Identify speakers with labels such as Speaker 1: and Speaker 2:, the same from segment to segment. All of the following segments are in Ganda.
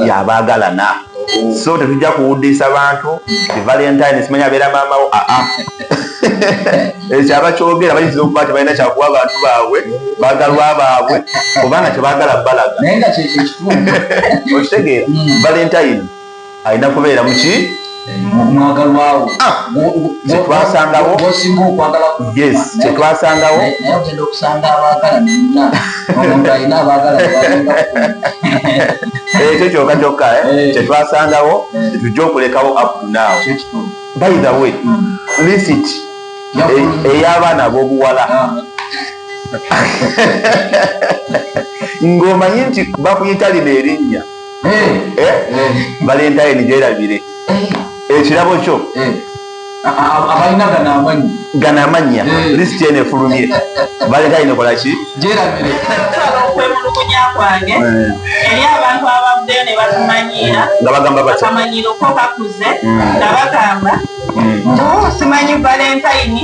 Speaker 1: yabaagalana oh. so tetujja kuwuddiisa bantu ti valentine simanya abeera maamawo aa ah, ah. ekyo abakyogera bayinza okuba ti balina kyakuwa abantu baabwe bagalwa baabwe kubanga kyebagala balaga okitegeera hmm. valentine alina kubeera muki mwagalwawo
Speaker 2: ah,
Speaker 1: kyewasangawo osinga okwagala yes kyetwasangawo naye ogenda okusanga
Speaker 2: abagala nina omuntu alina abagala
Speaker 1: ekyo kyoka kyokka eh? eh. kyetwasangawo tetujja eh. okulekawo abdunaawo by the way hmm. lisit ey'abaana ab'obuwala ah. ng'omanyi nti bakuyita lino erinnya valentine gyerabire ekirabo kyo
Speaker 2: abalina gana amanyi
Speaker 1: gana amannya eh. lisiti eno efulumye baleta ino kola ki gyerabire
Speaker 2: okwemulugunya
Speaker 3: kwange eh. eri abantu ababuddeyo ne batumanyiira nga bagamba
Speaker 1: batamanyiira okokakuze
Speaker 3: hmm. nga bagamba hmm. oh, simanyi valentayini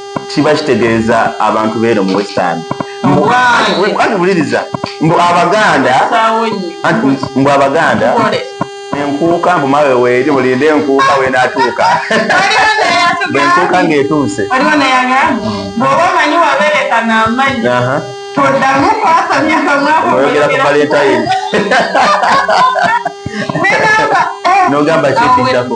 Speaker 1: kiba kitegeeza abantu beero mu western anti buliriza mbu abaganda mbu abaganda enkuuka mbu mawe weeri mulinde enkuuka wenatuuka bwenkuuka ngaetuuse
Speaker 3: oyogera ku
Speaker 1: valentine nogamba kyekiddako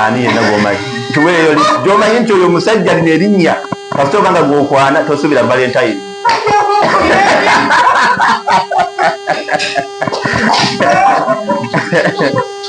Speaker 3: ani yenna
Speaker 1: gwomanyi tuweeyo li gyomanyi nti oyo omusajja lino erinnya kasita oba nga gwokwana tosuubira valentine